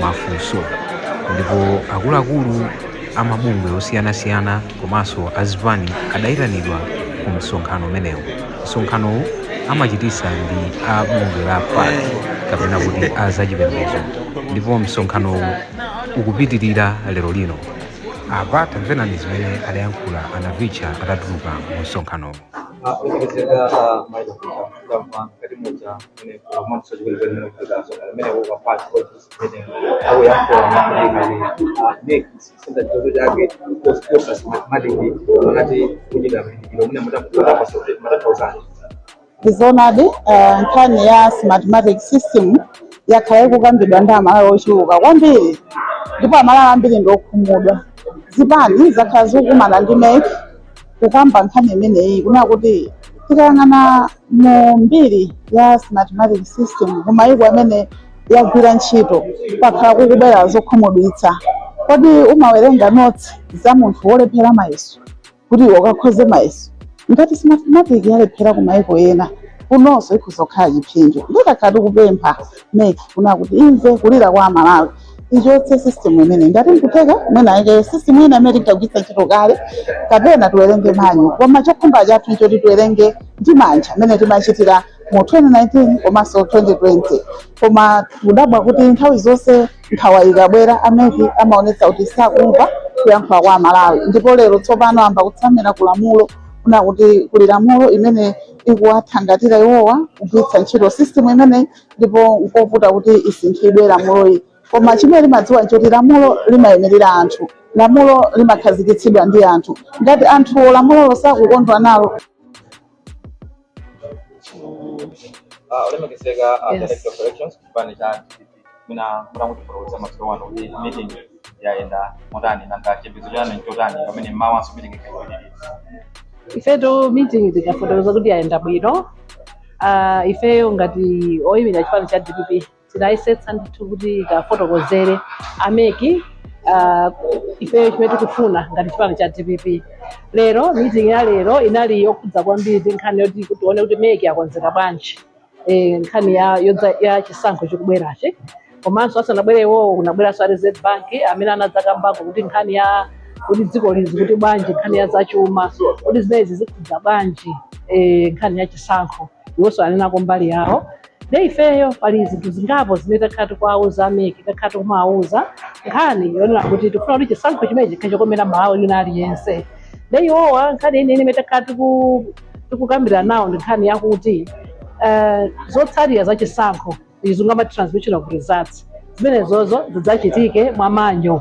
mafunso ndipo akuluakulu a mabungwe osiyanasiyana komanso azipani adayitanidwa ku msonkhano umenewu. Msonkhanowu amachititsa ndi a bungwe la pac kapena kuti a zachipembezo ndipo msonkhanowu ukupitilira lero lino. Apa tamverani zimene adayankhula a Navicha atatuluka mu msonkhanowu. ndizoonadi eh, nkhani ya smartmatic system yakhala ikukambidwa ndi amalawi ochuluka kwambiri ndipo amalawi ambiri ndi okhumudwa zipani zakhala zikukumana ndi MEC kukamba nkhani imeneyi kunena kuti tikayang'ana mu mbiri ya smart matic system ku mayiko amene yagwira ntchito kwakhala kukubwera zokhumudwitsa kodi umawerenga notes za munthu wolephera mayeso kuti iwe ukakhoze mayeso ngati smart matic yalephera ku mayiko ena kunonso ikhoza kukhala chiphinjo nde takhala tikupempha MEC kunena kuti imve kulira kwa amalawi ichotse system imeneyi ngati nkuteka mwina aike system ina imene tinkagwiritsa ntchito kale kapena tiwerenge manual koma chokhumba chathu nchoti tiwerenge ndi manja mmene timachitira mu 2019 komanso 2020 koma kudabwa kuti nthawi zonse nkhawa ikabwera a MEC amaonetsa kuti sakumva kuyankhula kwa amalawi ndipo lero tsopano amba kutsamira ku lamulo kunena kuti kuli lamulo imene ikuwathangatira iwowa kugwiritsa ntchito system imeneyi ndipo nkovuta kuti isinthidwe lamuloyi koma chimene timadziwa nchoti lamulo limayimirira anthu lamulo limakhazikitsidwa ndi anthu ngati anthuwo lamulolo sakukondwa nalo Ah, olemekezeka a Yes. director of elections chipani cha dpp mina mutangotipoloweza masowa kuti meeting yayenda motani nanga chipinzo chanu nchotani pamene mmawa asumitikeke kuchititsa ifeyo meeting tikafotokoza kuti yayenda bwino uh, ifeyo ngati oyimira chipani cha dpp tinayesetsa ndithu kuti tikafotokozere a MEC uh, ifeyo chimene tikufuna ngati chipani cha dpp lero meeting ya lero inali yokhudza kwambiri nkhani yoti tione kuti MEC akonzeka bwanji eh, nkhani ya, yodza- ya chisankho chikubwerachi komanso asanabwere iwowo kunabweranso a reserve bank amene anadzakambako kuti nkhani ya kuti dziko lizi kuti bwanji nkhani ya zachuma kuti zimenezi zikhudza bwanji eh, nkhani ya chisankho iwonso anenako mbali yawo nde ifeyo pali zinthu zingapo zimene takhala tikuwauza a MEC takhala tikumawauza nkhani yonena kuti tikufuna kuti chisankho chimenechi chikhale chokomera mmalawi wina aliyense nde iwowa nkhani yeniyeni imene takhala tiku tikukambira nawo ndi nkhani yakuti eh, zotsatira za chisankho izi ngati transmission of results zimenezozo zidzachitike mwa manual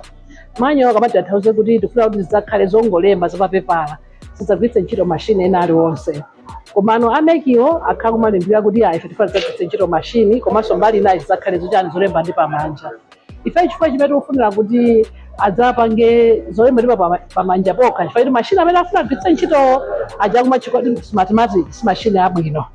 manual akamati atanthauza kuti tikufuna kuti zidzakhale zongolemba zapapepala zisagwiritse ntchito mashini ena aliwonse komano a mec iwo akhala akumalimbikira kuti ayi ife tifuna tidzagwiritse ntchito mashini komanso mbali inayo zidzakhale zochani zolemba pamanja ife chifukwa chimene tikufunira kuti adzapange zolemba ndi pa- pamanja pokha chifukwa kuti mashini amene afuna kugwiritsa ntchitowo aja akumati kodi smartmatic si mashini abwino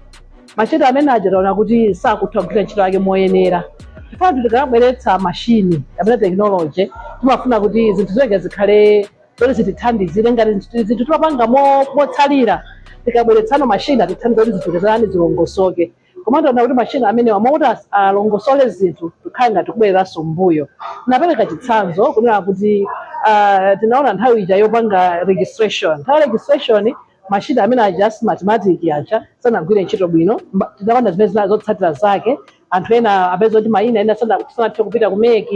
mashini amene aja taona kuti sakutha kugwira ntchito yake moyenera chifukwa kuti tikabweretsa mashini kapena tekinoloji timafuna kuti zinthu zonse zikhale zoti zitithandizire ngati zinthu- zinthu timapanga mo- motsalira tikabweretsano mashini atithandize kuti zinthu zitani zilongosoke koma ndaona kuti machine amenewa m'malo kuti as- alongosole zinthu kukhala ngati kubwereranso mbuyo ndapereka chitsanzo kunena kuti ah, tinaona nthawi ija yopanga registration nthawi ya registration machine amene aja a smartmatic aja sanagwire ntchito bwino Mba- tinaona zimene zina zotsatira zake anthu ena apeza kuti mayina ena sana- sanathe kupita ku mec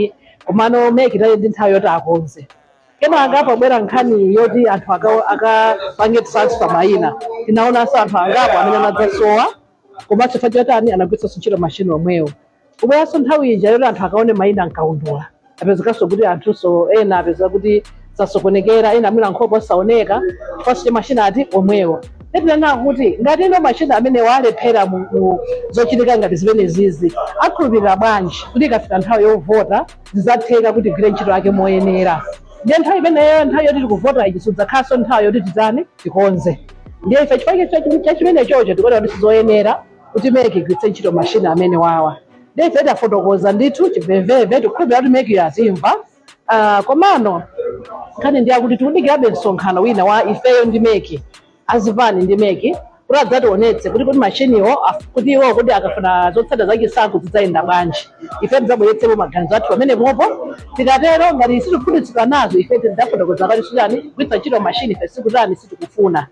komano mec inali ndi nthawi yoti akonze kenaka pabwera nkhani yoti anthu aka- akapange transfer mayina tinaonanso anthu angapo amene anadzasowa komanso chifukwa choti anagwiritsanso ntchito mashini omwewo kubweranso nthawi ija yoti anthu akaone mayina m'kaundula apezekanso kuti anthunso ena apezeka kuti asokonekera ena amene nkhope osaoneka chifukwanso cha mashini ati omwewo nde tinanena kuti ngati ino mashini amenewa alephera mu mu zochitika ngati zimenezizi tikhulupirira bwanji kuti ikafika nthawi yovota zidzatheka kuti igwire ntchito yake moyenera ndiye nthawi imeneyo nthawi yoti tikuvota ichi sidzakhalanso nthawi yoti tidzani tikonze ndiye ife chifukwa cha- cha chimenechocho tikuona kuti sizoyenera kuti mec igwiritse ntchito mashini amenewawa ndiye ife tafotokoza ndithu chimvemvemve tikukhulupirira kuti mec yatimva Ah, komano nkhani ndi yakuti tikudikirabe msonkhano wina wa ifeyo ndi mec a zipani ndi mec kuti adzationetse kuti kuti mashiniwo af- kuti iwo kuti akafuna zotsatira za chisankho zidzayenda bwanji ife tidzabweretsepo maganizo athu pamenepopo tikatero ngati sitikukhutitsidwa nazo ife tidzafotokoza kuti siyani kugwiritsa ntchito mashini ife sitikutani sitikufuna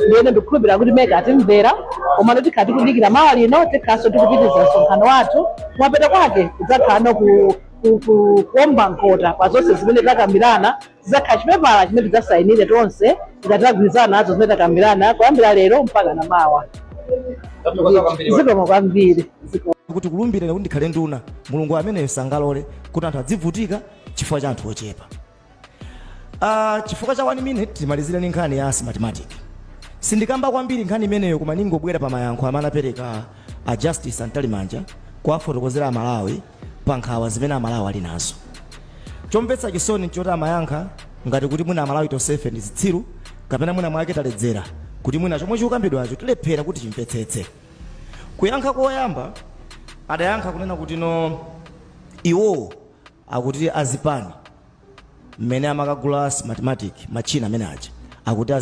ndiyeno ndikukhulupirira kuti mec atimvera komano tikhala tikudikira mawa lino tikhalenso tikupitiriza msonkhano wathu kumapeto kwake kudzakhalano ku ku- ku- kuomba mkota pa zonse zimene takambirana Padzakhala chipepala chimene tidzasayinire tonse ngati tagwirizana nazo zimene takambirana kuyambira lero mpaka na mawa. Tathokoza kwambiri. Zikomo kwambiri. Zikomo. kuti kulumbirira kuti ndikhale nduna mulungu ameneyo sangalole kuti anthu adzivutika chifukwa cha anthu ochepa uh, chifukwa cha 1 minute timalizire ni nkhani ya smartmatic sindikamba kwambiri nkhani imeneyo koma ndingobwera pa mayankho amene anapereka a justice mtalimanja kuwafotokozera amalawi pa nkhawa zimene Amalawi ali nazo. Chomvetsa chisoni n'choti amayankha ngati kuti mwina Amalawi tonsefe ndi zitsiru kapena mwinamwake taledzera kuti mwina chomwe chikukambidwacho tilephera kuti timvetsetse. Kuyankha koyamba adayankha kunena kutino iwowo akuti azipani mmene amakagula Smartmatic, matchina amene aja, akuti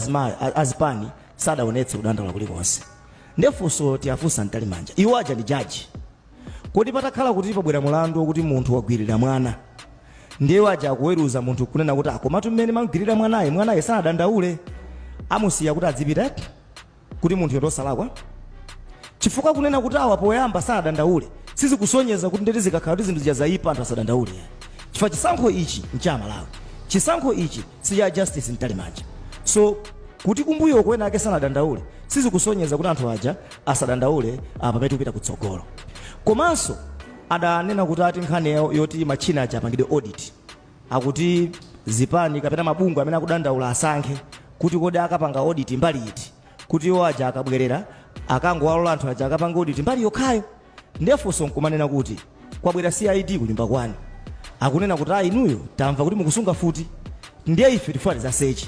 azipani sadaonetse kudandaula kulikonse. Ndiye funso tiwafunse a Mtalimanja, iwo aja ndi jaji? Kodi patakhala kuti pabwera mulandu okuti munthu wagwirira mwana ndiye ajaji akuweruza munthu kunena kuti ah komatu ah, mmene mmamgwirira mwanayu mwanayu sanadandaule amusiya kuti adzipita eti kuti munthu uyu ndi osalakwa chifukwa kunena kuti awa poyamba sanadandaule sizikusonyeza kuti ndiye kuti zikakhala kuti zinthu zija zayipa anthu asadandaule chifukwa chisankho ichi ncha Amalawi chisankho ichi si cha justice mtalimanja so kuti kumbuyoko ena ake sanadandaule sizikusonyeza kuti anthu aja asadandaule apa pamene tikupita kutsogolo komanso adanena kuti ati nkhani yawo yoti matchina aja apangidwe audit akuti zipani kapena mabungwe amene akudandaula asankhe kuti kodi akapanga audit mbali iti kuti iwo aja akabwerera akangowalola anthu aja akapange audit mbali yokhayo ndefunso nkumanena kuti kwabwera cid kunyumba kwanu akunena kuti ayi inuyo tamva kuti mukusunga mfuti ndiye ife tifuna tizaseche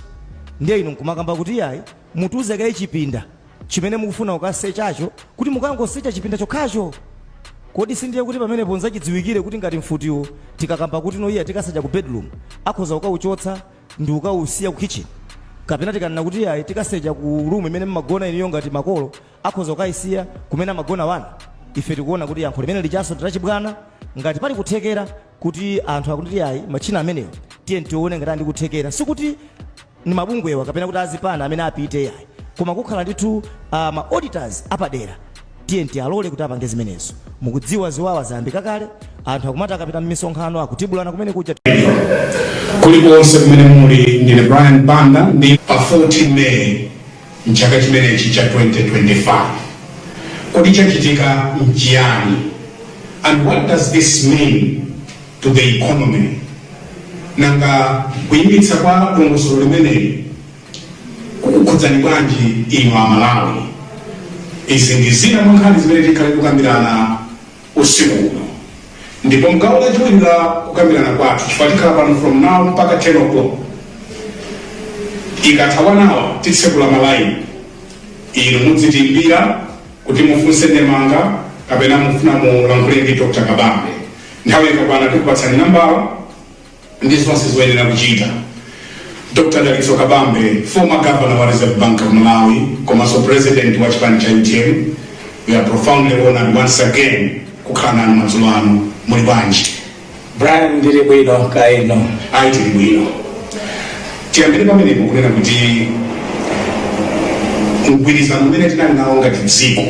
ndiye inu nkumakamba kuti ayi Mutiuze kaye chipinda chimene mukufuna kukasechacho kuti mukangosecha chipinda chokhacho? Kodi sindiye kuti pamenepo nzachidziwikire kuti ngati mfutiwo tikakamba kuti no iyayi tikasecha ku bedroom akhoza kukauchotsa ndikukausiya ku kitchen? Kapena tikanena kuti iyayi tikasecha ku room imene mmagona inuyo ngati makolo Akhoza kukaisiya kumene amagona ana? Ife tikuona kuti yankho limene lijanso ndi lachibwana. Ngati pali kuthekera kuti anthu akuti iyayi matchina amenewo tiyeni tione ngati ali ndi kuthekera. Sikuti ndi mabungwewa kapena kuti azipani amene apite iyayi. Koma kukhala ndithu ah, ma auditors apadera tiyeni tialole kuti apange zimenezo. Mukudziwa ziwawa zayambika kale, anthu akumati akapita m'misonkhano akutibulana kumene kuja. Kulikonse kumene muli, ndine Brian Banda ndi Pa 14 May, M'chaka chimenechi cha 2025, kodi chachitika n'chiyani and what does this mean to the economy? Nanga kuyimitsa kwa dongosolo limeneli kukhudzani bwanji inu Amalawi? Izi ndi zina mwa nkhani zimene tikhale tikukambirana. usiku uno. Ndipo mgawo lachiwiri la kukambirana kwathu, chifukwa tikhala pano from now mpaka 10 o'clock, ikatha one hour titsekula malaini, inu mudzitiimbira kuti mufunse ndemanga kapena mufuna mulankhule ndi Dr. Kabambe. Nthawi ikakwana tikupatsani nambala ndi zonse zoyenera kuchita. Dr Dalitso Kabambe, former governor wa Reserve Bank of Malawi komanso president wa chipani cha utm, we are profoundly honored once again kukhala nanu madzulo ano muli bwanji Brian ndili bwino kaya inu ayi tili bwino tiyambire pamenepo kunena kuti mgwirizano umene tinali nawo ngati dziko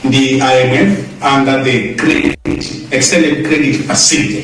ndi imf under the credit, extended credit facility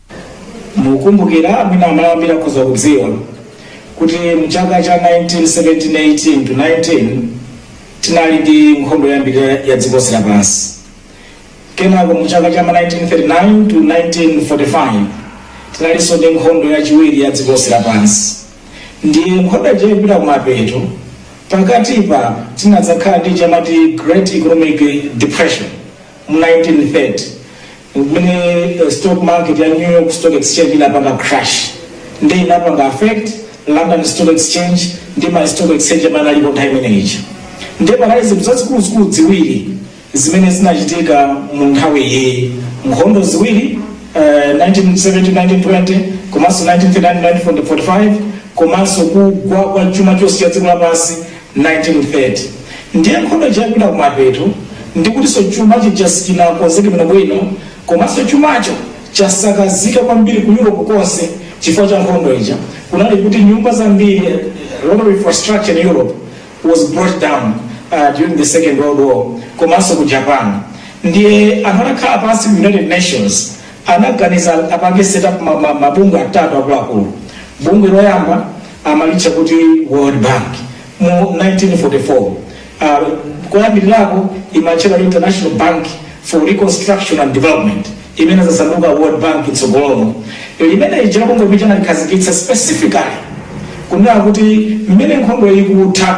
mukumbukira mwina Amalawi ambiri akhoza kudziwa kuti mchaka cha 1917-18 to 19 tinali ndi nkhondo yoyambirira ya dziko lonse lapansi kenako mu chaka cha 1939 to 1945 tinalinso ndi nkhondo yachiwiri ya dziko lonse lapansi ndiye nkhondo ija ikupita kumapeto pakatipa tinadzakhala ndi chomwe amati great economic depression mu 1930 pamene eh, stock market ya New York Stock Exchange inapanga crash ndi inapanga affect London Stock Exchange ndi ma stock exchange amene analipo nthawi imene ija ndiye panali zinthu zazikuluzikulu ziwiri zimene zinachitika mu nthawi iyi nkhondo ziwiri eh, 1917-1920 komanso 1939-1945 komanso kugwa kwa chuma chonse cha dziko lapansi 1930 ndiye nkhondo ija ikupita kumapeto ndikutinso chuma chija sichinakonzeke bwinobwino komanso chumacho chasakazika kwambiri ku europe konse chifukwa cha nkhondo ija kunali kuti nyumba zambiri eh, a lot of infrastructure in europe was brought down uh, during the second world war komanso ku japan ndiye anakhala pansi ku united nations anaganiza apange set up ma, ma, mabungwe atatu akuluakulu bungwe loyamba amalitcha kuti world bank mu 1944 uh, koyambirirako imatchedwa international bank for reconstruction and development imene inadzasanduka world bank mtsogolomo limene lija bungwe kuti analikhazikitsa specifically kunena kuti mmene nkhondo ikutha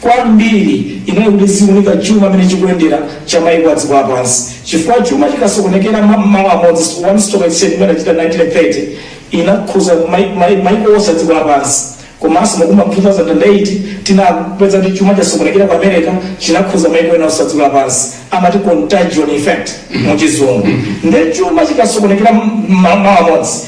kwambiri inali kuti iziunika chuma mmene chikuyendera cha maiko a dziko lapansi chifukwa chuma chikasokonekera ma- malo amodzi so one stock exchange imene inachitika 1930 inakhuza mai- mai- maiko onse a dziko lapansi komanso mukumbukira 2008 tinapeza kuti chuma chitasokonekera ku america chinakhuza maiko ena onse a dziko lapansi amati contagion effect mu chizungu nde chuma chikasokonekera ma- malo amodzi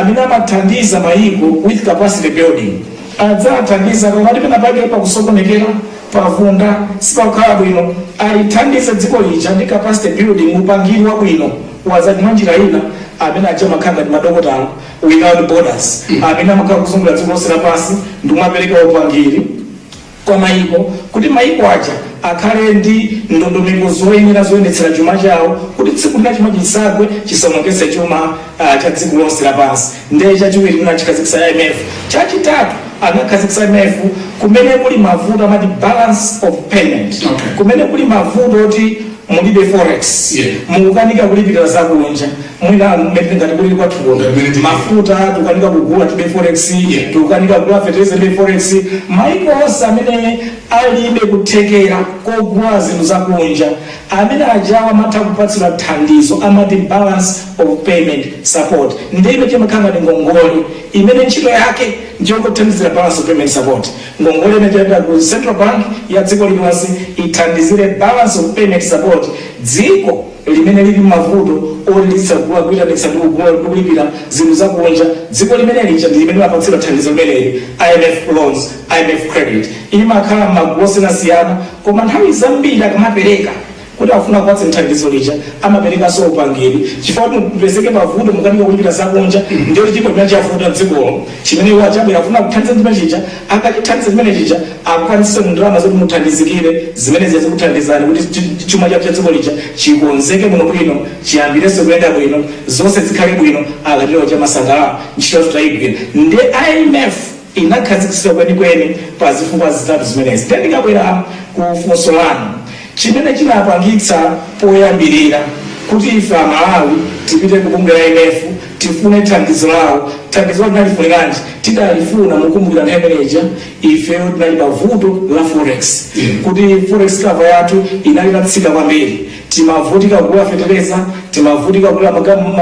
amene amathandiza mayiko with capacity building adzawathandiza kapena pena pake pakusokonekera pavunda sipakukhala bwino alithandize dziko lija ndi capacity building upangiri wabwino wa azachuma mwa njira ina amene aja amakhala ngati madokotala without borders amene amakhala akuzungulira dziko lonse lapansi ndikumapereka upangiri kwa mayiko kuti mayiko aja akhale ndi ndondomeko zoyenera zoyendetsera chuma chawo kuti dziko lina chuma chikagwa chisaonongetse chuma uh, cha dziko lonse lapansi ndiye chachiwiri chimene anakhazikitsa imf chachitatu anakhazikitsa imf kumene kuli mavuto amati balance of payment Okay. kumene kuli mavuto oti mulibe forex Yeah. mukukanika kulipirira zakunja mwina mmene ngati kuli kwathu kuno Mmene tili mafuta tikukanika kugula tibe forex Yeah. tikukanika kugula fertilizer tibe forex maiko onse amene alibe kuthekera kogula zinthu zakunja amene ajawa amatha kupatsidwa thandizo amati balance of payment support nde imene imakhala ngati ngongole imene ntchito yake ndiyokuthandizira balance of payment support Ngongole imachokera ku Central Bank ya dziko lililonse ithandizire Balance of Payment Support dziko limene lili mmavuto oti lizitha kugula, kuitanitsa ndi kugula ndi kulipira zinthu za kunja. Dziko limene lija ndi limene limapatsidwa thandizo limeneli, IMF loans, IMF credit. Imakhala mmagulu osiyanasiyana koma nthawi zambiri akamapereka. Kuti akufuna akupatseni thandizo lija amaperekanso upangiri chifukwa kuti mupezeke pavuto mukanika kulipira zakunja ndiye kuti chilipo chimene chavuta mdzikolo chimene iwo aja abwera akufuna akuthandizeni chimene chija akachithandiza chimene chija akupatseninso ndalama zoti muthandizikire zimene zija zikuthandizani kuti chi- chi- chuma chanu cha dziko lija chikonzeke bwino bwino chiyambirenso kuyenda bwino zonse zikhale bwino akatero aja amasangalala ntchito yathu tayigwira nde imf inakhazikitsidwa kwenikweni pa zifukwa zitatu zimenezi nde ndikabwera ku funso lanu Chimene chinapangitsa poyambirira kuti ife a Malawi tipite ku bungwe la IMF tifune thandizo lawo, thandizolo tinalifuniranji? Tidalifuna mukumbukira nthawi imene ija ifeyo tinali pa vuto la forex, kuti forex cover yathu inali itatsika kwambiri, timavutika kugula fetereza, timavutika kugula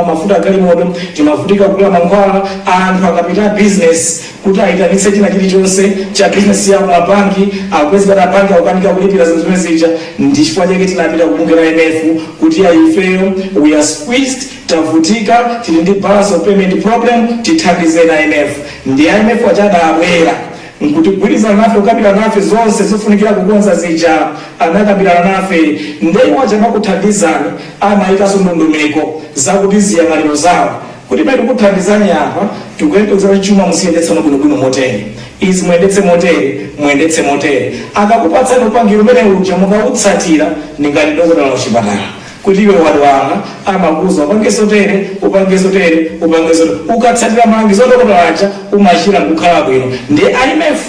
mafuta agalimoto, timavutika kugula mankhwala, anthu akapita a bizinesi, kuti ayitanitse china chilichonse cha business yawo ma banki akungozikana mabanki akukanika kulipira zinthu zimene zija ndi chifukwa chake tinapita ku bungwe la IMF kuti ya ifeyo we are squeezed tavutika tili ndi balance of payment problem tithandizeni a IMF nde a IMF aja adabwera nkudzagwirizana nafe kukambirana nafe zonse zofunikira kukonza zija anakambirana nafe nde iwo aja akamakuthandizani amayikanso ndondomeko zakuti ziyangʼaniro zawo Kuti pamene tikukuthandizani apa? Tikuyembekeza kuti chuma muziyendetsano bwinobwino motere. Izi muyendetse motere, muyendetse motere. Akakupatsani upangiri umene uja mukautsatira ndi ngati dokotala wa kuchipatala kuti iwe wadwala amakuuza upange zotere, upange zotere, upange zotere. Ukatsatira malangizo a dokotala aja umachira n'kukhala bwino. Ndiye IMF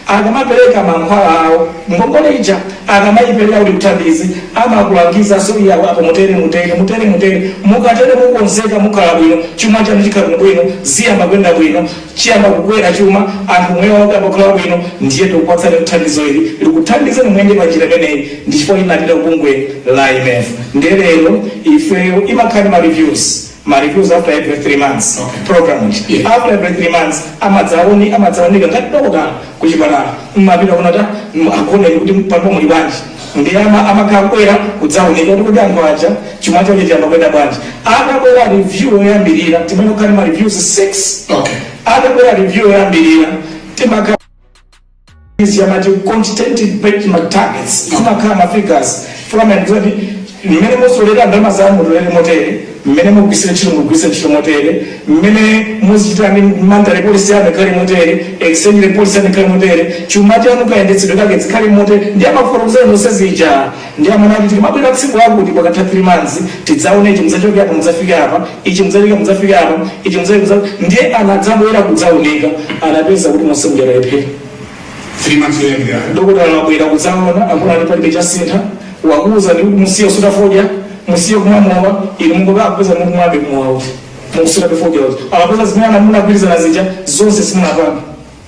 Akamapereka mankhwala awo, ngongole ija akamaipereka ndi kuthandiza amakulangizanso kuti apo mutere, mutere, mutere, mutere. Mukatero mukonzeka, mukhala bwino, chuma chanu chikhala bwinobwino, ziyamba kuyenda bwino, chiyamba kukwera chuma, anthu umoyo wawo uyamba kukhala wabwino, ndiye tikupatsani thandizo ili likuthandizeni muyende pa njira imeneyi. Ndi chifukwa tinapita kubungwe la IMF. Ndiye lero ifeyo imakhala ndi ma reviews. ma reviews after every 3 months Okay. program ichi Yeah. after every 3 months amadzaone amadzaunika ngati dokotala kuchipatala mmapita kuna ta mm, akuoneni kuti palipo muli bwanji ndi ama amakhala akubwera kudzaunika kuti kuti anthu aja chuma chawo chiyamba kuyenda bwanji atabwera review yoyambirira timayenera kukhala ndi ma reviews 6 Okay. atabwera review yoyambirira timakhala izi amati quantitative benchmark targets zimakhala ma figures fulani kuti mmene mutolere ndalama zanu mutolere motere mmene mugwisire ntchito mugwise ntchito motere mmene muzichita ndi monetary policy yanu ikhale motere exchange rate policy yanu ikhale motere chuma chanu kayendetsedwe kake zikhale motere ndi amafotokozera zonse zija Ndiye amanena kuti tikamabwera tsiku lakuti pakatha 3 months tidzaone ichi mudzachoke apa mudzafike apa, ichi mudzaleke mudzafike apa, ichi mudzaleke mudzafike. Ndiye anadzabwera kudzaunika anapeza kuti monse muja talephera. 3 months yoyambirira. Dokotala wabwera kudzaona akuona kuti palibe chasintha wakuuzani kuti musiye kusuta fodya musiye kumwa mowa inu mungoka akupeza mukumwabe mowa uti mukusuta fodya uti akapeza zimene munagwirizana zija zonse simunapange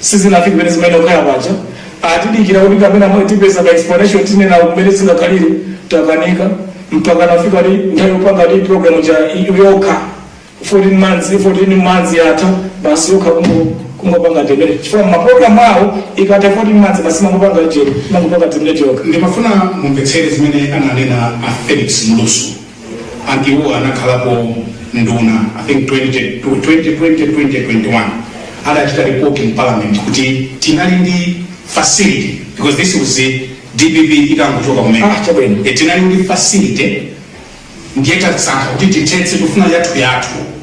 sizinafike pamene zimayenera kukhala paja atidikira kuti kapena mwe tipeza ka explanation tinene mmene zingakhalire takanika mpaka inafika nthawi yopanga kuti program ija yokha 14 months 14 months yatha basi yokha kungo kungopanga terminate chifukwa maprogramu awo ikatha 14 months basi imangopanga je imangopanga terminate yokha ndimafuna mumvetsere zimene ananena a felix mlusu amene anakhalapo nduna i think 20, 2020 2021 adachita report in parliament kuti tinali ndi facility because this was the dpp itangochoka kumene Ah, chabwino. Eh, tinali ndi facility ndiye tasankha kuti tithetse tufuna yathu yathu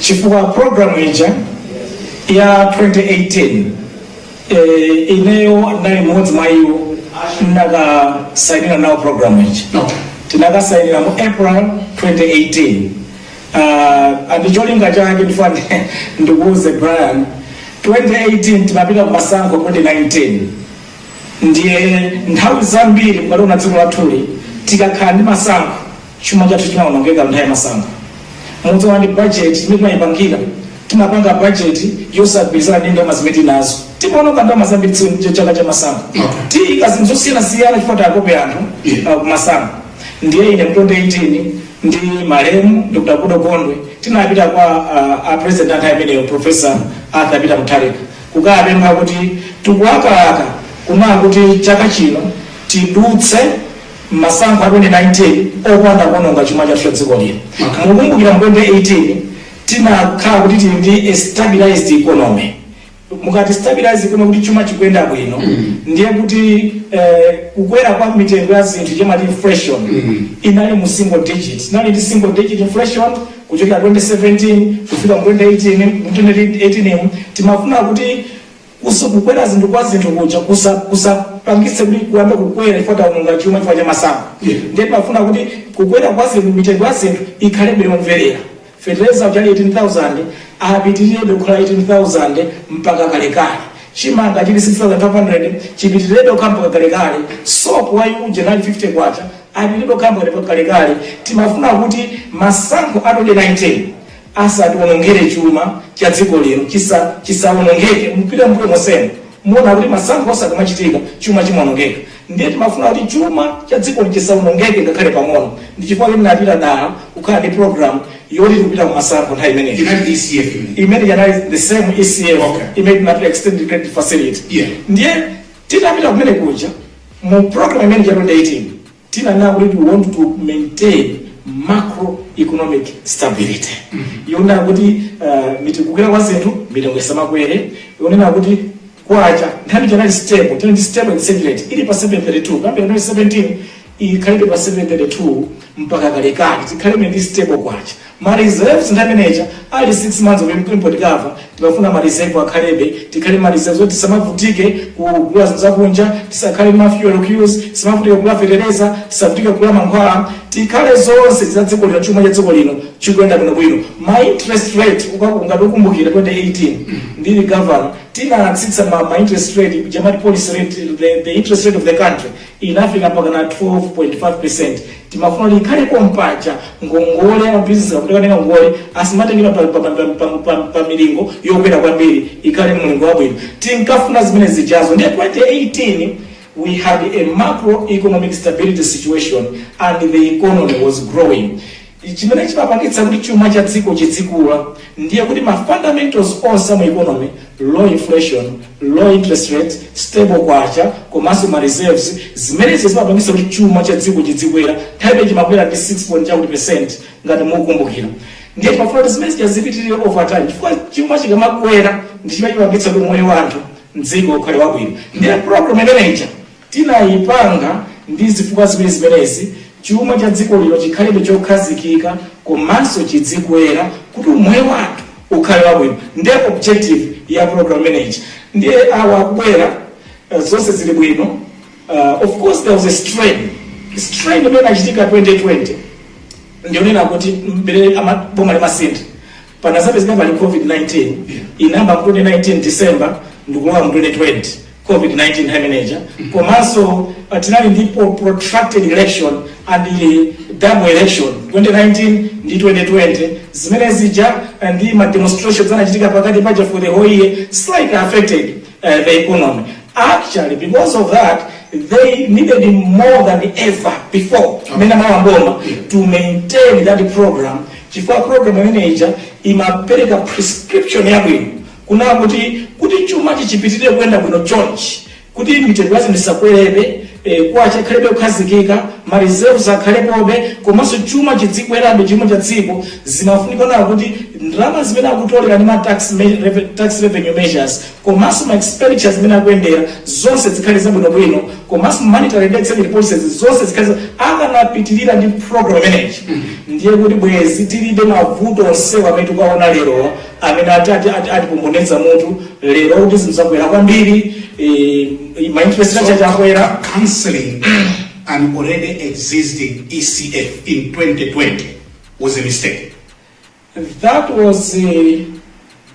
chifukwa programu ija ya 2018 eh, ineyo ndinali mmodzi mwa iwo ndinakasainira nawo programu ija No. tinakasainira mu april 2018 uh, and cholinga chake ndifuna ndikuuze brian 2018 timapita ku masankho 2019 ndiye nthawi zambiri mukaliona dziko lathuli tikakhala ndi masankho Chuma chathu chimawonongeka nthawi yamasankho. Mudzaona ndi budget imene timayipangira. Timapanga budget yosagwirizana ndi ndalama zimene tili nazo. Timawononga ndalama zambiri chaka chamasankho. Tiyika zinthu zosiyanasiyana chifukwa takope anthu uh, kumasankho. Ndiye ine mu 2018 ndi malemu Dr. Goodall Gondwe tinapita kwa uh, a president a nthawi imeneyo Professor Arthur Peter Mutharika kukapempha kuti tikulakalaka kunena kuti chaka chino tidutse Masankho a 2019 opanda kuononga chuma chathu cha dziko lino, mukukumbukira mu 2018 tinakhala kuti tili ndi a stabilized economy, mukati stabilized economy kuti chuma chikuyenda bwino ndiye kuti kukwera kwa mitengo ya zinthu chija amati inflation inali mu single digit, tinali ndi single digit inflation kuchokera 2017 kufika mu 2018, mu 2018 timafuna kuti. Kusu, kukwera zinthu kwa zinthu kuja kusa kusapangitse kuti kuyamba kukwera chifukwa taononga chuma chifukwa cha masankho Yeah. ndiye timafuna kuti kukwera kwa zinthu mitengo ya zinthu ikhalebe yomweyo fetereza uja anali 18000 apitirebe kukhala 18000 mpaka kalekale chimanga chili 6500 chipitirebe kukhala mpaka kalekale sopo uja anali 50 kwacha apitirebe kukhala mpaka kalekale timafuna kuti masankho a 2019 asatiwonongere chuma cha dziko lino chisa chisawonongeke mupite mbuyo monsemo muona kuti masankho onse akamachitika chuma chimawonongeka ndiye timafuna kuti chuma cha dziko chisawonongeke ngakhale pang'ono ndi chifukwa chake tinapita dala kukhala ndi program yoti tikupita kumasankho nthawi imeneyi Inali ECF imene. imene yanali the same ECF Okay. imene tinapita extended credit facility Yeah. ndiye titapita kumene kuja mu program imene ija ya 2018 Tinanena kuti we want to maintain macroeconomic stability yonena kuti uh, mitikukwera kwa zinthu mitengo isamakwere yonena kuti kwacha nthawi ija inali stable tinali ndi stable exchange rate ili pa 732 kuyambira 2017 ikhalebe pa 732 mpaka kalekale tikhalebe ndi stable kwacha Ma reserves nthawi imene ija ali 6 months of import cover timafuna ma reserve akhalebe tikhale ma reserves oti tisamavutike kugula zinthu zakunja tisakhale ndi ma fuel queues tisamavutike kugula fetereza tisavutike kugula mankhwala tikhale zonse za dziko lino chuma cha dziko lino chikuyenda bwinobwino ma interest rate ukaku- ngati ukumbukira 2018 ndili governor tinatsitsa ma, ma interest rate ija amati policy rate the, the interest rate of the country inafika mpakana 12.5%. Timafuna kuti ikhale pompaja ngongole amabizinesi akatenga ngongole asamatengere pa, pa, pa, pa, pa, pa, pa milingo yokwera kwambiri ikhale mlingo wabwino. Tinkafuna zimene zijazo ndiye 2018 we had a macroeconomic stability situation and the economy was growing. Chimene chimapangitsa kuti chuma cha dziko chidzikula ndiye kuti ma fundamentals onse a mu economy, low inflation, low interest rate, stable kwacha komanso ma reserves, zimene zija zimapangitsa kuti chuma cha dziko chidzikwera, nthawi imene chimakwera ndi 6 point chakuti percent ngati mukukumbukira. Ndiye timafuna kuti zimene zija zipitirire over time chifukwa chuma chikamakwera ndi chimene chimapangitsa kuti moyo wa anthu m'dziko ukhale wabwino. Ndiye program imene ija Tinaipanga ndi zifukwa ziwiri zimenezi, chuma cha dziko lino chikhalebe chokhazikika komanso chidzikwera kuti umoyo wa anthu ukhale wabwino nde objective ya program imene ija ndiye awa akubwera zonse zili bwino uh, of course there was a strain strain imene inachitika 2020 ndikunena kuti mmene ama- boma limasintha Panadzapezeka pali COVID-19 inayamba mu 2019 December ndikulowa mu 2020 COVID-19 nthawi imene ija komanso ah, tinali ndi po- protracted election and eh, double election 2019 ndi 2020 zimene zija ah, ndi ma demonstrations anachitika pakati paja for the whole year slightly affected uh, the economy. Actually, because of that, they needed more than ever before mmene analowa m'boma to maintain that program chifukwa program imene ija imapereka prescription yabwino kunena kuti kuti chuma chipitirire kuyenda bwino chonchi kuti mitengo ya zinthu isakwerebe e, kwacha akhalebe yokhazikika mareserves akhalepobe komanso chuma chidzikwerabe, chuma cha dziko zimafunika kuona kuti ndalama zimene akutolera ndi ma tax, me, reve- tax revenue measures komanso ma expenditure zimene akuyendera zonse zikhale zabwinobwino komanso monetary and exchange rate policies zonse zikhale za- akanapitirira ndi program imene ija ndiye kuti bwezi tilibe mavuto onsewa amene tikuwaona lero amene ati ati ati atipomboneza mutu lero kuti zinthu zakwera kwambiri eh, ma interest rate ati akwera canceling an already existing ECF in 2020 was a mistake. that was a,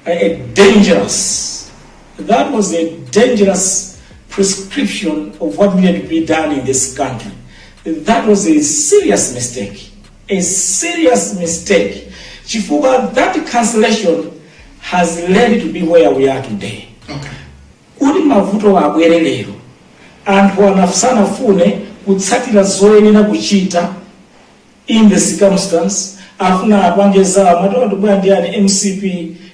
a, a dangerous that was a dangerous prescription of what needed to be done in this country that was a serious mistake a serious mistake chifukwa that cancellation has led us to be where we are today okay. kuti mavuto abwere lero anthu ena sanafune kutsatira zoyenera kuchita in the circumstance amafuna apange zawo amati tabwera ndi ani mcp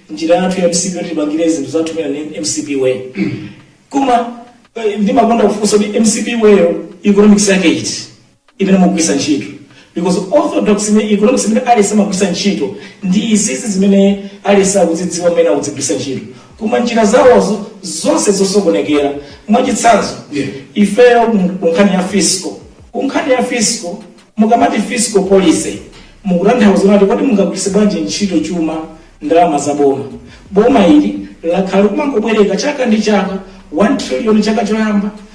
njira yathu ya mcp yoti tipangire zinthu zathu mmene ndi mcp way koma eh, ndimakonda kufunsa kuti mcp way-yo economics yake iti imene mukugwiritsa ntchito because orthodox economics imene aliyense amagwiritsa ntchito ndi izizi zimene aliyense akuzidziwa mmene akuzigwiritsa ntchito koma njira zawozo zonse zosokonekera mwachitsanzo Yeah. ifeyo mu- ku nkhani ya fiscal ku nkhani ya fiscal mukamati fiscal policy mukutanthauza kuti kodi mungagwiritse bwanji ntchito chuma ndalama za boma boma ili lakhala kumangobwereka chaka ndi chaka 1 trillion chaka choyamba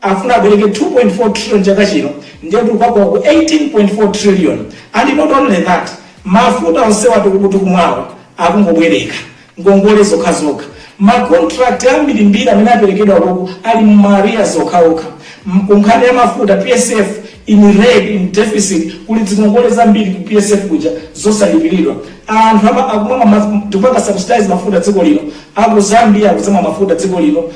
afuna abwereke 2.4 trillion chaka chino ndiye kuti tikakwa ku 18.4 trillion and not only that mafuta onsewa tikumwawa akungobwereka ngongole zokhazokha ma contract ambirimbiri amene aperekedwa koko ali mu ma arrears okhaokha M- ku nkhani ya mafuta psf in red in deficit kuli zingongole zambiri ku psf kuja zosalipiridwa anthu ama- akumwa ma- tikupanga subsidize mafuta dziko lino aku zambia akuzamwa mafuta dziko lino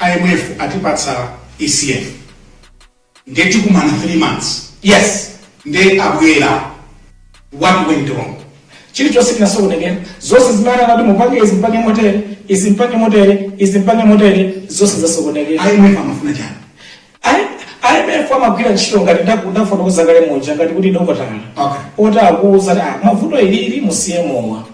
IMF atipatsa ECF nde tikumana 3 months yes nde abwera what went wrong chilichonse chinasokonekera zonse zimene anati mupange izi mupange motere izi mupange motere izi mupange motere zonse zasokonekera IMF amafuna chani A IMF amagwira ntchito ngati ndafotokoza kale muja ngati kuti ndi dokotala okay. woti akuuza ah, vuto ili musiye mowa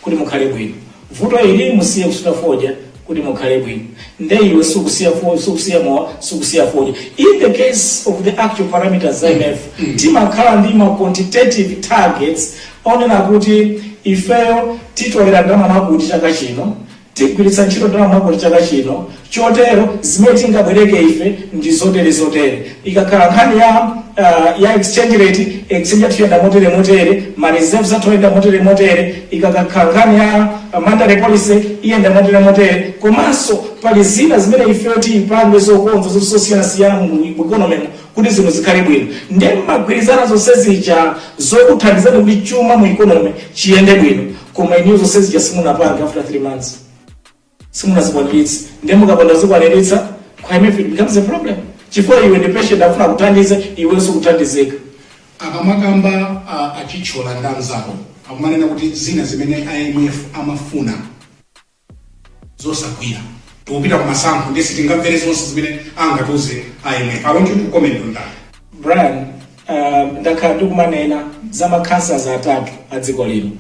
kuti mukhale bwino, vuto ili musiye kusuta fodya kuti mukhale bwino, nde iwe sukusiya fodya, sukusiya mowa, sukusiya fodya. In the case of the actual parameters za IMF mm. mm. timakhala ndi ma quantitative targets onena kuti ifeyo titolera ndalama mwakuti chaka chino Tigwiritsa ntchito ndalama mwakuti chaka chino, chotero zimene tingabwereke ife ndi zotere zotere. Ikakhala nkhani ya, uh, ya exchange rate, exchange yathu iyenda motere motere, ma reserves athu ayenda motere motere, ikakhala nkhani ya uh, monetary policy iyenda motere motere, komanso pali zina zimene ifeyo tizipange zokonza zosiyana siyana mu economy kuti zinthu zikhale bwino nde mmagwirizana zonse zija zokuthandizani kuti chuma mu economy chiyende bwino koma inuyo zonse zija simunapange after 3 months simunazikwaniritse nde mukapanda kuzikwaniritsa kwa imf it becomes a problem chifukwa iwe ndi patient afuna kuthandiza iwe sukuthandizika akamakamba a- achitchola ndi anzawo akumanena kuti zina zimene imf amafuna zosagwira tikupita kumasankho nde sitingamvere zonse zimene angatiuze imf i want you to comment on that brian uh, ndakhala ndikumanena za ma cancers atatu a dziko lino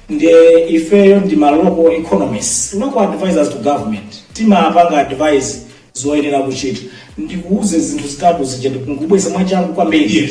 ndiye ifeyo ndi ma local economists local advisors to government timapanga advice zoyenera kuchita ndikuuze zinthu zitatu zija ndikungubweza mwachangu kwambiri Yes.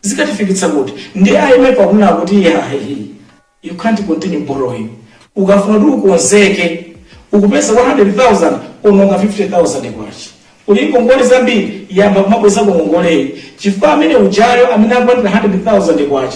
zikatifikitsa kuti? Ndiye IMF akunena kuti iyayi you can't continue borrowing ukafuna kuti ukonzeke ukupeza K100,000 uononga K50,000 uli ndi ngongole zambiri yamba kumabwezako ngongoleyi chifukwa amene ujayo amene akulandira K100,000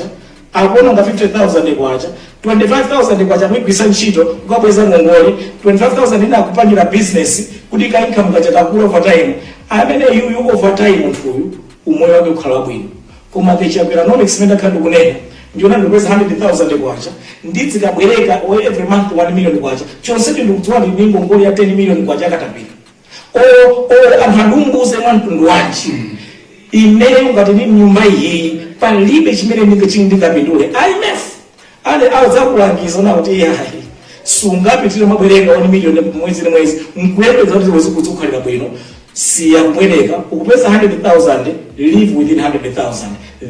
akuononga K50,000, K25,000 akuyigwiritsa ntchito kukabweza ngongole, K25,000 ina akupangira business kuti ka income kaja kakule over time, amene uyu over time munthuyu. umoyo wake ukhala wabwino koma ku Chakweranomics imene ndakhala ndikunena ndiona ndikupeza 100000 kwacha ndidzikabwereka o every month 1 million kwacha chonsecho ndikudziwa ndi ndi ngongole ya 10 million kwacha akatapira o o anthu andiwuze mwa mtundu wanji imeneyo ngati ndi mnyumba iyiyi palibe chimene ndinge chini ndingapindule IMF ale adzakulangiza nawo kuti iyayi sungapitire mabwereka 1 million mwezi ndi mwezi nkuyembeza kuti udzikukhalira bwino siya kubwereka ukupeza 100000 live within 100000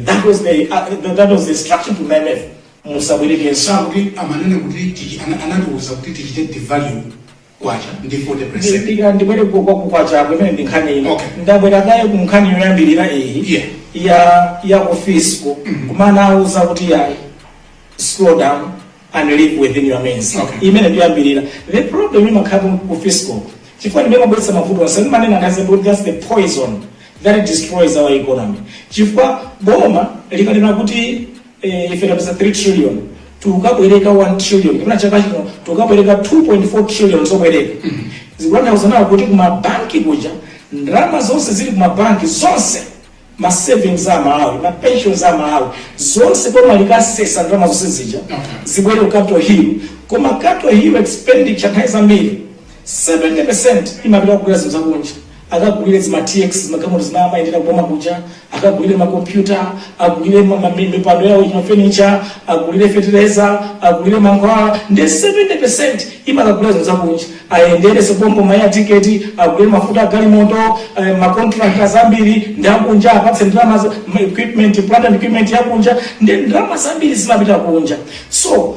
that was the uh, that was the instruction to IMF musabwerekenso sikuti amanena kuti tichi- ana- anatiuza kuti tichite devalue kwacha ndi 40 percent ndipita ndibwere ku- kwa kukwacha kumene ndi nkhani ino Okay. ndabwera kaye ku nkhani yoyambirira iyi Yeah. ya ya ku fiscal kumanawauza kuti ya slow down and live within your means Okay. imene ndi yoyambirira the problem imakhala ku fiscal chifukwa ndimene imabweretsa mavuto onse ndimanena nazo kuti that's the poison that destroys our economy chifukwa boma likanena kuti eh, ife tapeza 3 trillion tukabwereka 1 trillion kapena chaka chino tukabwereka 2.4 trillion zobwereka zikutanthauza nawo kuti kumabanki kuja ndalama zonse zili kumabanki zonse ma savings a Amalawi ma pensions a Amalawi zonse boma likasesa ndalama zonse zija zibwere ku capital hill koma capital hill expenditure nthawi zambiri 70% imapita kugulira zinthu zakunja akagulire zima TX zimagalimoto zimene amayendera kuboma kuja akagulire makompyuta agulire ma- ma- mi- mipando yawo mafenicha agulire fetereza agulire mankhwala ndi 70% imakagulira zinthu zakunja ayendere pompopompo ma air ticket agulire mafuta agalimoto eh, macontractors ambiri ndi akunja apatse ndalama za- ma- equipment plant and equipment yakunja ndi ndalama zambiri zimapita kunja so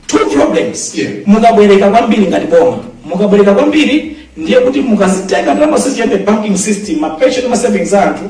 two problems Yeah. mukabwereka kwambiri ngati boma mukabwereka kwambiri ndiye kuti mukazitenga ndalama zonse za mu banking system ma pension ma savings a anthu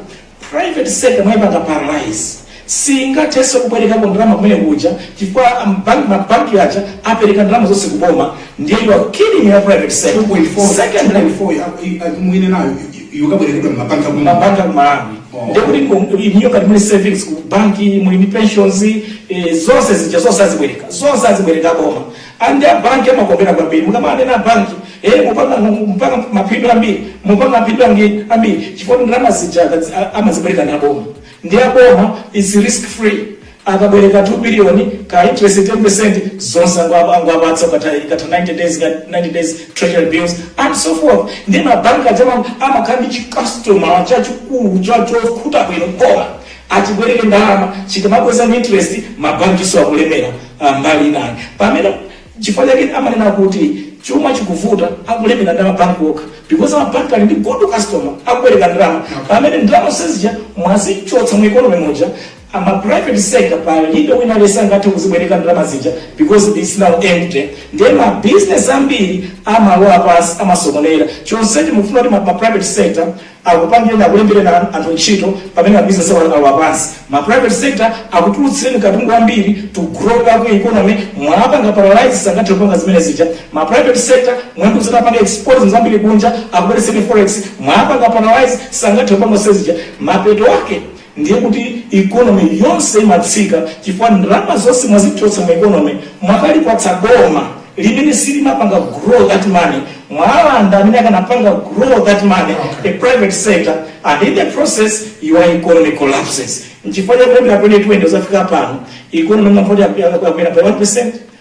private sector mwayipanga paralyze singathenso kubwerekako ndalama kumene kuja chifukwa ambank- mabanki aja apereka ndalama zonse kuboma ndiye you are killing your private sector 2.4 secondly 2.4 ya- i- i- mwine nayo i- i- ikubwerekedwa mmabanki akumene mabanki aku malawi Oh. ndekuti ku- inuyo ngati muli ndi savings ku banki muli ndi pensions eh, zonse zija zonse azibwereka zonse azibwereka boma and abanki amakondwera kwambiri mukamanena banki eh, mupanga mupanga mapindu ambiri mupanga mapindu ambiri ambiri chifukwa ndalama zija akazi- a- amazibwereka ndi aboma ndiye boma is risk free akabwereka 2 billion ka interest 10% zonse angwa- angwapatsa ukatha ikatha 90 days ka- 90 days treasury bills and so forth ndiye mabanki aja ma amakhala ndi chikastoma chachikulu cha chokhuta bwino boma achibwereke ndalama chikamabweza ndi interest mabankiso akulemera ah, mbali inayi pamene Nchifukwa chake amanena kuti chuma chikuvuta akulemera ndi amabank okha because amabank ali ndi good customer akubwereka ndalama pamene ndalama zonse zija mwazichotsa mu economy muja ma private sector palibe wina aliyense angathe kuzibwereka ndalama zija because its now empty ndiye ma business ambiri amalowa pansi amasokonera chonsecho mukufuna kuti ma ma private sector akupangireni akulembereni anu anthu ntchito pamene mabusiness awo alowa pansi ma private sector akutulutsireni katundu wambiri to grow up economy mwawapanga paralyze sangathe kupanga zimene zija ma private sector mwawauza apange export zinthu zambiri kunja akubweretsereni forex mwawapanga paralyze sangathe kupanga zimene zija mapeto ake ndiye kuti economy yonse imatsika chifukwa ndalama zonse mwazichotsa mu economy mwakalipatsa boma limene silimapanga grow that money mwalanda amene akanapanga grow that money a private sector and in the process your economy collapses nchifukwa chake kuyambira 2020 kuzafika pano economy mwamva kuti yakwera by 1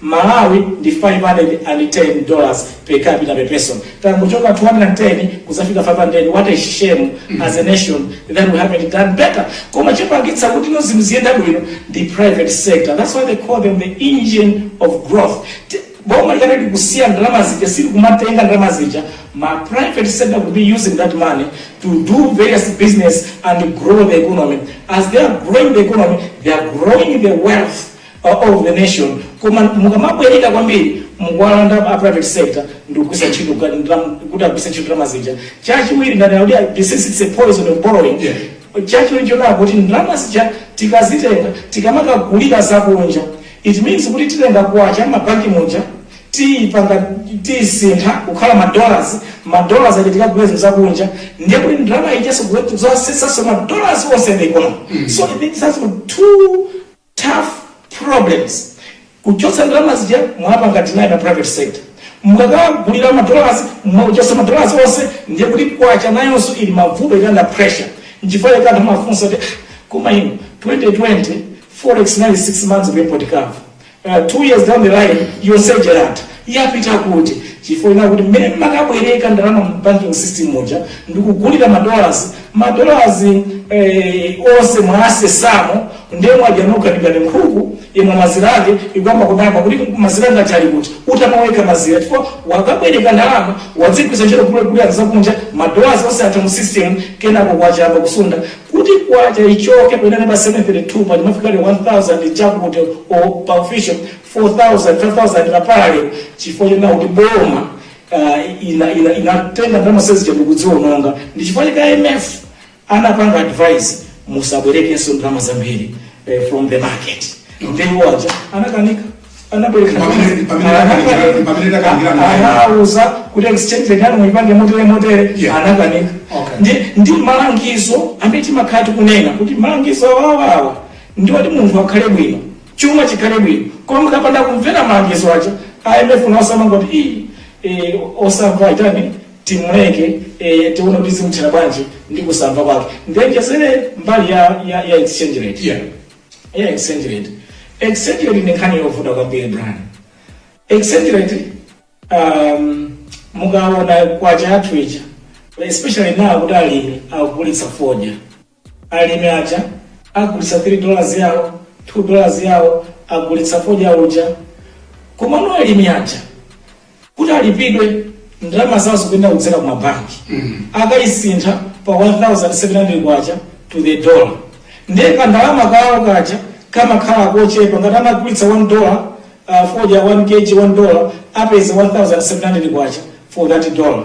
Malawi ndi 510 dollars per capita per person tangochoka 210 kuzafika 500 what a shame as a nation that we haven't done better koma chopangitsa kuti zinthu ziziyenda bwino ndi private sector that's why they call them the engine of growth T- boma likati likusiya ndalama zija silikumatenga ndalama zija ma private sector will be using that money to do various business and grow the economy as they are growing the economy they are growing the wealth or of the nation koma mukamabwereka kwambiri mukuwalanda a private sector ndikugwisa ntchito ga- ndam- kuti agwise ntchito ndalama zija chachiwiri ndanena kuti I- this is it's a poison of borrowing Yeah. chachiwiri chonena kuti ndalama zija tikazitenga tikamakagulira zakunja it means kuti titenga kwacha mmabanki muja tiyipanga tiyisintha kukhala madollars madollars aja tikagula zinthu zakunja ndiye kuti ndalama ijaso kuzasesaso madollars onse the economy so it has two tough problems kuchotsa ndalama zija mwapanga deny ma private sector mukakagulira ma dollars mwachotsa ma dollars onse ndiye kuti kwacha nayonso ili mmavuto ili under pressure nchifukwa chake anthu amafunsa kuti "Ah, koma ino 2020 forex inali 6 months of import cover uh, 2 years down the line yonse ija yatha Yapita kuti? Chifukwa chonena kuti mmene mmakabwereka ndalama mu banking system muja ndikugulira ma dollars, ma dollars eeh onse mwasesamo ndiye mwadya nokha ndi ngati nkhuku imwa mazira ake ikuyamba kudabwa kuti mazira anga aja ali kuti? Utamwa wekha mazira chifukwa wakabwereka ndalama wazigwiritsa ntchito kugulira zakunja ma dollars onse atha mu system kenako kwacha yayamba kusuntha kuti kwacha ichoke pamene inali pa 732 paja imafika ili 1000 chakuti or pa official 4000, 5000 ku parallel chifukwa chonena kuti boma lina lina linatenga ndalama zonsezi zija ndikuziononga ndi chifukwa chake IMF anapanga advise musabwerekenso ndalama zambiri eh, from the market ndiye iwo aja anakanika anabwereka Pamene- pamene takanikira- pamene takanikira ndalama. Ana- anauza kuti exchange rate yanu muipange motere motere Yeah. anakanika Okay. ndi ndi malangizo amene timakhala tikunena kuti malangizo awawawa ndi oti munthu akhale bwino chuma chikhale bwino koma mukapanda kumvera malangizo aja a imf nawonso amangoti ii eh, osamva itani timuleke eh, tione kuti zimthera bwanji ndi kusamva kwake ndiwonjezere mbali ya, ya, ya exchange rate Yeah. ya exchange rate exchange rate ndi nkhani yovuta kwambiri Brian exchange rate um, mukaona kwacha yathu ija especially now kuti alimi akugulitsa fodya Alimi aja agulitsa 3 dollars yawo, 2 dollars yawo, agulitsa fodya uja. Komano alimi aja kuti alipidwe ndalama zawo zikuyenera kudzera ku mabanki. Akayisintha pa 1700 kwacha to the dollar. Ndiye ka ndalama kawo kaja kamakhala kochepa ngati amagulitsa 1 dollar uh, fodya 1 kg 1 dollar apeza 1700 kwacha for that dollar.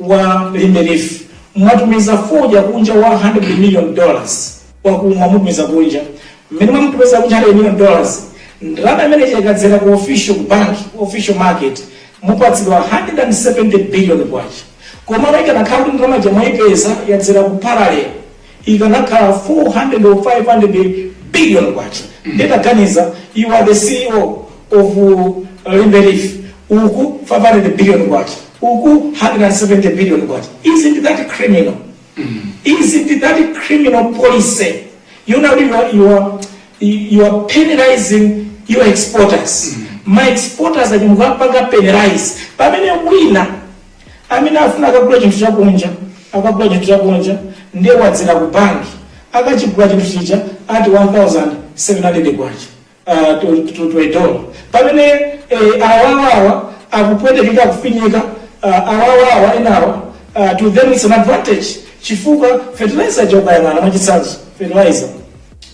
wa limbe leaf mwatumiza fodya kunja wa 100 million dollars wakuti mwamutumiza kunja mmene mwamutumiza kunja 100 million dollars ndalama imene ija ikadzera ku official ku bank ku official market mupatsidwa 170 billion kwacha koma ikanakhala kuti ndalama ija mwaipeza yadzera ku parallel ikanakhala 400 or 500 billion kwacha nde taganiza you are the ceo of limbe leaf uku 500 billion kwacha uku 170 billion kwacha isn't that criminal isn't that criminal policy you know you are, you are, you are penalizing your exporters my exporters ati mukapanga penalize pamene wina Amene afuna akagula chinthu chakunja, akagula chinthu chakunja ndiye wadzera ku bank akachigula chinthu chija ati K1700 uh, to, to, to a dollar pamene eh, awawawa akupwetekeka akufinyika uh, awawawa enawa uh, to them it's an advantage chifukwa fertilizer uja ukayang'ana mwachitsanzo fertilizer